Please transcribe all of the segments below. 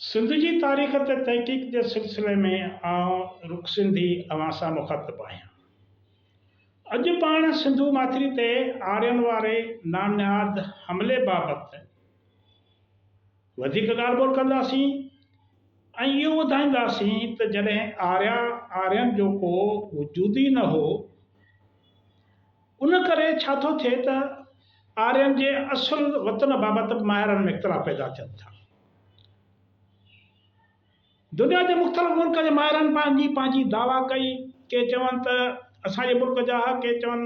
سنڌ جي تاريخ تي تحقيق جي سلسلي ۾ آئون رک سنڌي اوهان سان مخاطب آهيان. اڄ پاڻ سنڌو ماٿري تي آرين واري نامنهاد حملي بابت وڌيڪ ڳالهه ٻولهه ڪنداسين ۽ اهو ٻڌائينداسين ته جڏهن آريا، آرين جو ڪو وجود ئي نه هو، ان ڪري ڇا ٿو ٿئي ته آرين جي اصل وطن بابت به ماهرن ۾ اختلاف پيدا ٿين ٿا. دنيا جي مختلف ملڪن جي ماهرن پنهنجي پنهنجي دعويٰ ڪئي، ڪي چون ته اسان جي ملڪ جا هئا، ڪي چون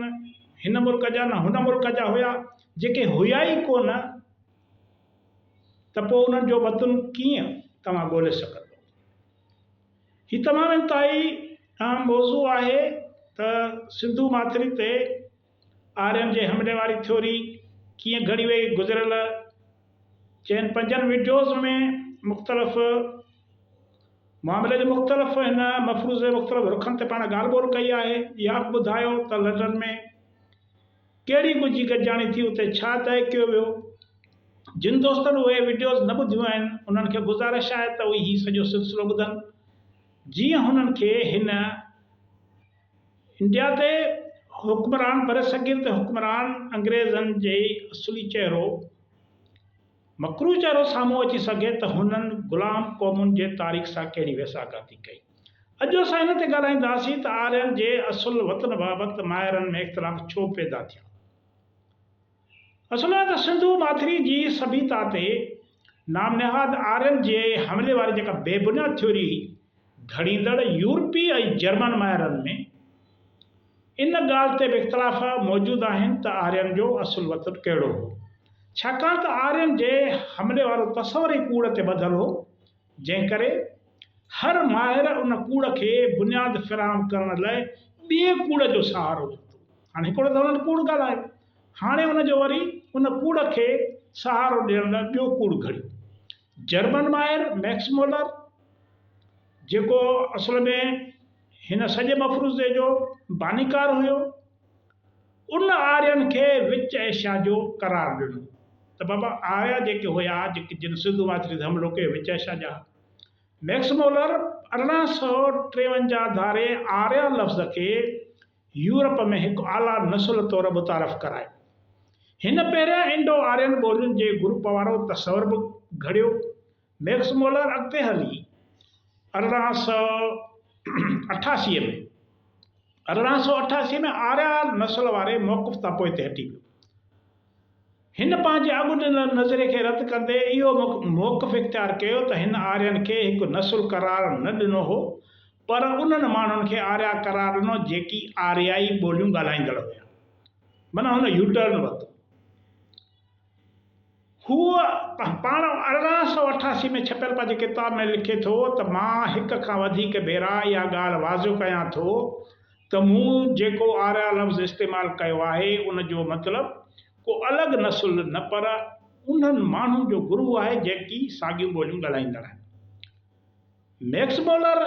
هن ملڪ جا نه هن ملڪ جا هيا، جيڪي هيا ئي ڪو نه ته پوء انهن جو وطن ڪيئن توهان ڳولي سگهندو. هي تمام انتهائي اهم موضوع آهي ته سنڌو ماٿري تي آرين جي همڏي واري ٿيوري ڪيئن گهڙي وئي گذريل چئن پنجن وڊيوز ۾ مختلف معاملي جي مختلف هن مفروضي مختلف رخن تي پاڻ ڳالهه ٻولهه ڪئي آهي اهيا به ٻڌايو ته لنڊن ۾ ڪهڙي ڳجهي گڏجاڻي ٿي اتي ڇا طئي ڪيو ويو. جن دوستن اهي وڊيوز نه ٻڌيون آهن انهن کي گذارش آهي ته اهي هي سڄو سلسلو ٻڌن جيئن هنن کي هن انڊيا تي حڪمران برصغير تي حڪمران انگريزن جي اصلي چهرو مڪروه چهرو سامهون اچي سگهي ته هنن غلام قومن جي تاريخ سان ڪهڙي ويساهگاتي ڪئي. اڄ اسان ان تي ڳالهائينداسين ته آرين جي اصل وطن بابت ماهرن ۾ اختلاف ڇو پيدا ٿيا. اصل ۾ ته سنڌو ماٿري جي سڀيتا تي نام نهاد آرين جي حملي واري جيڪا بي بنياد ٿيوري گهڙيندڙ يورپي ۽ جرمن ماهرن ۾. ان ڳالهه تي به اختلاف موجود آهن ته آرين جو اصل وطن ڪهڙو هو، ڇاڪاڻ ته آرين جي حملي وارو تصور ئي ڪوڙ تي ٻڌل هو، جنهن ڪري هر ماهر ان ڪوڙ کي بنياد فراهم ڪرڻ لاء ٻئي ڪوڙ جو سهارو ورتو. هاڻ هڪڙو ته هنن ڪوڙ ڳالهايو، هاڻي ان جو وري ان ڪوڙ کي سهارو ڏيڻ لاء ٻيو ڪوڙ گهڙيو. جرمن ماهر ميڪس مولر جيڪو اصل ۾ هن سڄي مفروضي جو بانيڪار هيو. ان آرين کي وچ ايشيا جو قرار ڏنو ته بابا آريا جيڪي هيا جيڪي جن سنڌ واچڙي ڌم روڪي وچ ايشيا جا ها. ميڪس مولر ارڙهن سؤ ٽيونجاهه ڌاري آريا لفظ کي يورپ ۾ هڪ اعليٰ نسل طور متعارف ڪرايو. هن پهريان انڊو آرين ٻولين جي گروپ وارو تصور به گهڙيو. ميڪس مولر اڳتي هلي ارڙهن سؤ اٺاسي ۾، ارڙهن سؤ اٺاسي ۾ آريا نسل واري موقف تان پوئتي هٽي پيو. هن پنهنجي اڳ ڏنل نظريي کي رد ڪندي اهو موقف اختيار ڪيو ته هن آرين کي هڪ نسل قرار نه ڏنو هو پر انهن ماڻهن کي آريا قرار ڏنو جيڪي آريائي ٻوليون ڳالهائيندڙ هيا. معنيٰ هن يوٽرن ورتو. هو پاڻ ارڙهن سؤ اٺاسي ۾ ڇپيل پنهنجي ڪتاب ۾ لکي ٿو ته مان هڪ کان وڌيڪ ڀيرا اها ڳالهه واضح ڪيان ٿو ته مون جيڪو آريا لفظ استعمال ڪيو آهي ان جو مطلب ڪو الڳ نسل نه پر انهن ماڻهن جو گروهه آهي جيڪي ساڳيون ٻوليون ڳالهائيندڙ آهن ميڪس مولر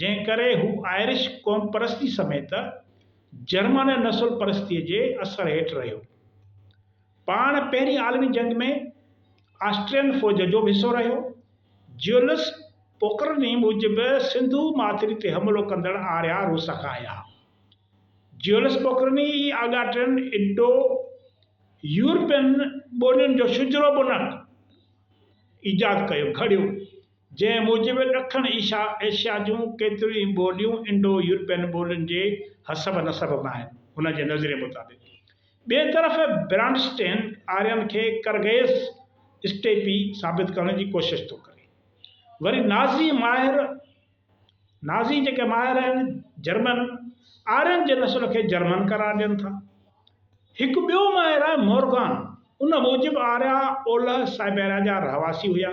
جنهن ڪري هو آئرش قومپرستي سميت جرمن نسل پرستيء جي اثر هيٺ رهيو. پاڻ پهرين عالمي جنگ ۾ آسٽرين فوج جو به حصو رهيو. جيولس پوڪرني موجب سنڌو ماٿري تي حملو ڪندڙ آريا روس کان آيا ها. جيولس پوڪرني ئي آڳا ٽن انڊو يورپين ٻولين جو شجرو بنهه ايجاد ڪيو، گهڙيو. جنهن موجب ڏکڻ ايشيا جون ڪيتريون ئي ٻوليون انڊو يورپين ٻولين جي حسب نسب ۾ آهن. هن جي نظريي مطابق ٻئي طرف برانڊسٽين آرين کي ڪرغيز اسٽيپي ثابت ڪرڻ جي ڪوشش ٿو ڪري. وري نازي ماهر نازي جيڪي ماهر آهن جرمن آرين جي نسل کي جرمن قرار ڏين ٿا. هڪ ٻيو ماهر آهي مورگان ان موجب آريا اولهه سائبيريا جا رهواسي هيا.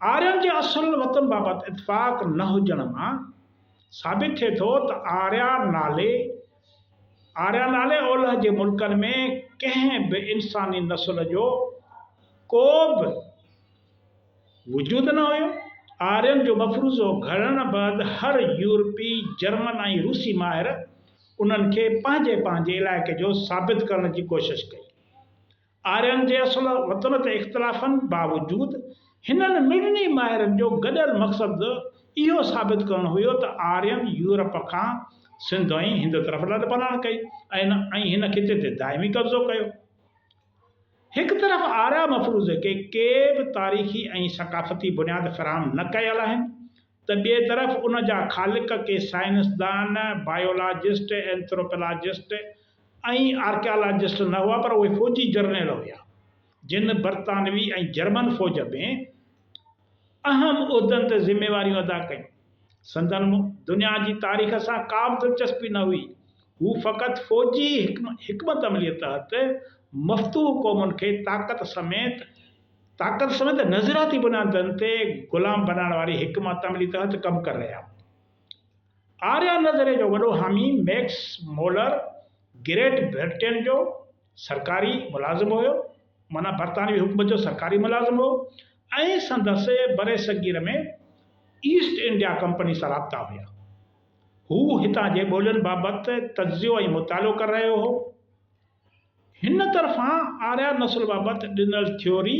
آرين جي اصل وطن بابت اتفاق نه هجڻ مان ثابت ٿئي ٿو ته آريا نالي Arya نالي اولهه جي ملڪن ۾ ڪنهن به انساني نسل جو ڪو به وجود نه هيو. آرين جو مفروضو گهڙڻ بعد هر يورپي، جرمن ۽ روسي ماهر انهن کي پنهنجي پنهنجي علائقي جو ثابت ڪرڻ جي ڪوشش ڪئي. آرين جي اصل وطن تي اختلافن باوجود هنن مڙني ماهرن جو گڏيل مقصد اهو ثابت ڪرڻ هيو ته آرين يورپ کان سنڌ ۽ هند طرف لڏپلاڻ ڪئي ۽ هن خطي تي دائمي قبضو ڪيو. هڪ طرف آريا مفروضي کي ڪي به تاريخي ۽ ثقافتي بنياد فراهم نه ڪيل آهن ته ٻئي طرف ان جا خالق ڪي سائنسدان، بايولاجسٽ، اينٿروپلاجسٽ ۽ آرڪيالاجسٽ نه هئا پر اهي فوجي جرنيل هيا جن برطانوي ۽ جرمن فوج ۾ اهم عهدن تي ذميواريون ادا ڪيون. سندن دنيا جي تاريخ سان ڪا به دلچسپي نه هئي. هو فقط فوجي حڪمت عمليء تحت مفتوح قومن کي طاقت سميت طاقت سميت نظرياتي بنيادن تي غلام بنائڻ واري حڪمت عملي تحت ڪم ڪري رهيا هئا. آريا نظريي جو وڏو حامي ميڪس مولر گريٽ برٽين جو سرڪاري ملازم هيو، معنيٰ برطانوي حڪومت جو سرڪاري ملازم هو ۽ سندس برصغير ۾ ايسٽ انڊيا ڪمپني سان رابطا هيا. هو هتان جي ٻولين بابت تجزيو ۽ مطالعو ڪري رهيو هو. هن طرفان آريا نسل بابت ڏنل ٿيوري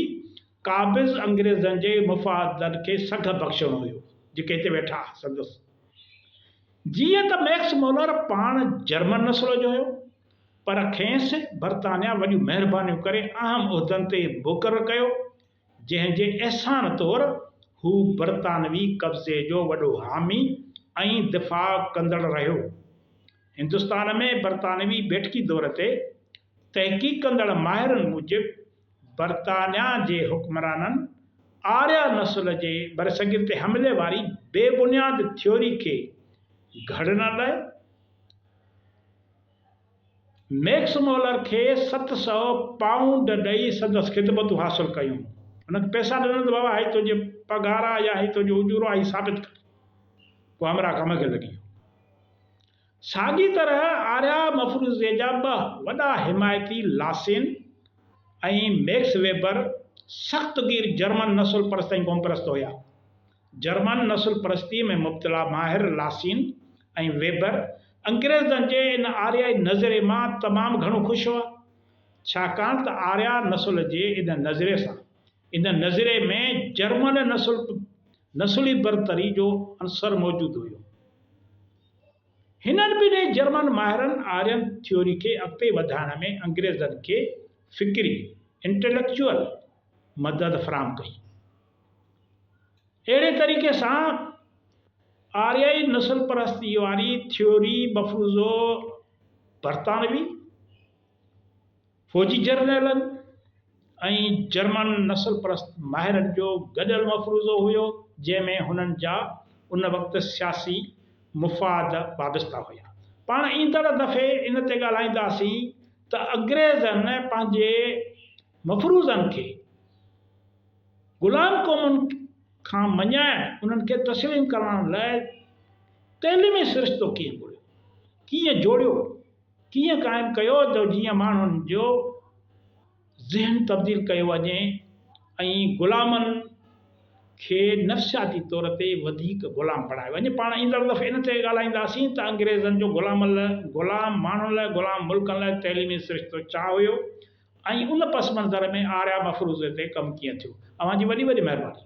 قابض انگريزن جي مفادن کي سگهه بخشڻو هيو، جيڪي هتي ويٺا آهن سندس. جيئن ته ميڪس مولر پاڻ جرمن نسل جو هيو، پر کينس برطانيا وڏيون مهربانيون ڪري اهم عهدن تي مقرر ڪيو، جنهن جي احسان طور هو برطانوي قبضي جو وڏو حامي ۽ دفاع ڪندڙ رهيو. هندستان ۾ برطانوي بيٺڪي دور تي تحقيق ڪندڙ ماهرن موجب برطانيا جي حڪمرانن آريا نسل جي برصغير تي حملي واري بي بنياد ٿيوري کي گهڙڻ لاء، ميڪس مولر کي ست سؤ پائونڊ ڏئي سندس خدمتون حاصل ڪيون. هن کي پئسا ڏنل ته بابا هي تنهنجي پگهار آ يا هي تنهنجو اجورو آ هي ثابت ڪر. پوء همراهه ڪم کي لڳي ويو. ساڳي طرح آريا مفروزي جا ٻه وڏا حمايتي لاسين ۽ ميڪس ويبر سخت گير جرمن نسل پرست ۽ قوم پرست هيا. جرمن نسل پرستيء ۾ مبتلا ماهر لاسين ۽ ويبر انگريزن جي ان آريائي نظرئي مان تمام گهڻو خوش هئا، ڇاڪاڻ ته آريا نسل جي ان نظرئي سان ان نظرئي ۾ جرمن نسل پ نسلي برتري جو عنصر موجود هيو. هنن ٻنهي جرمن ماهرن آرين ٿيوري کي اڳتي وڌائڻ ۾ انگريزن کي فڪري، Intellectual، مدد فراهم ڪئي. اهڙي طريقي سان آريائي نسل پرستيء واري ٿيوري مفروضو برطانوي فوجي جرنيلن ۽ جرمن نسل پرست ماهرن جو گڏيل مفروضو هيو، جنهن ۾ هنن جا ان وقت سياسي مفاد وابسته هيا. پاڻ ايندڙ دفعي ان تي ڳالهائينداسين ته انگريزن پنهنجي مفروضن کي غلام قومن کان مڃائڻ، انهن کي تسليم ڪرائڻ لاء تعليمي سرشتو ڪيئن گهڙيو، ڪيئن جوڙيو، ڪيئن قائم ڪيو جو جيئن ماڻهن جو ذهن تبديل ڪيو وڃي ۽ غلامن کي نفسياتي طور تي وڌيڪ غلام بڻايو وڃي. پاڻ ايندڙ دفعي ان تي ڳالهائينداسين ته انگريزن جو غلامن لاء، غلام ماڻهن لاء، غلام ملڪن لاء تعليمي سرشتو ڇا هيو؟ ۽ ان پس منظر ۾ آريا مفروضي تي ڪم ڪيئن ٿيو. اوهان جي وڏي وڏي مهرباني.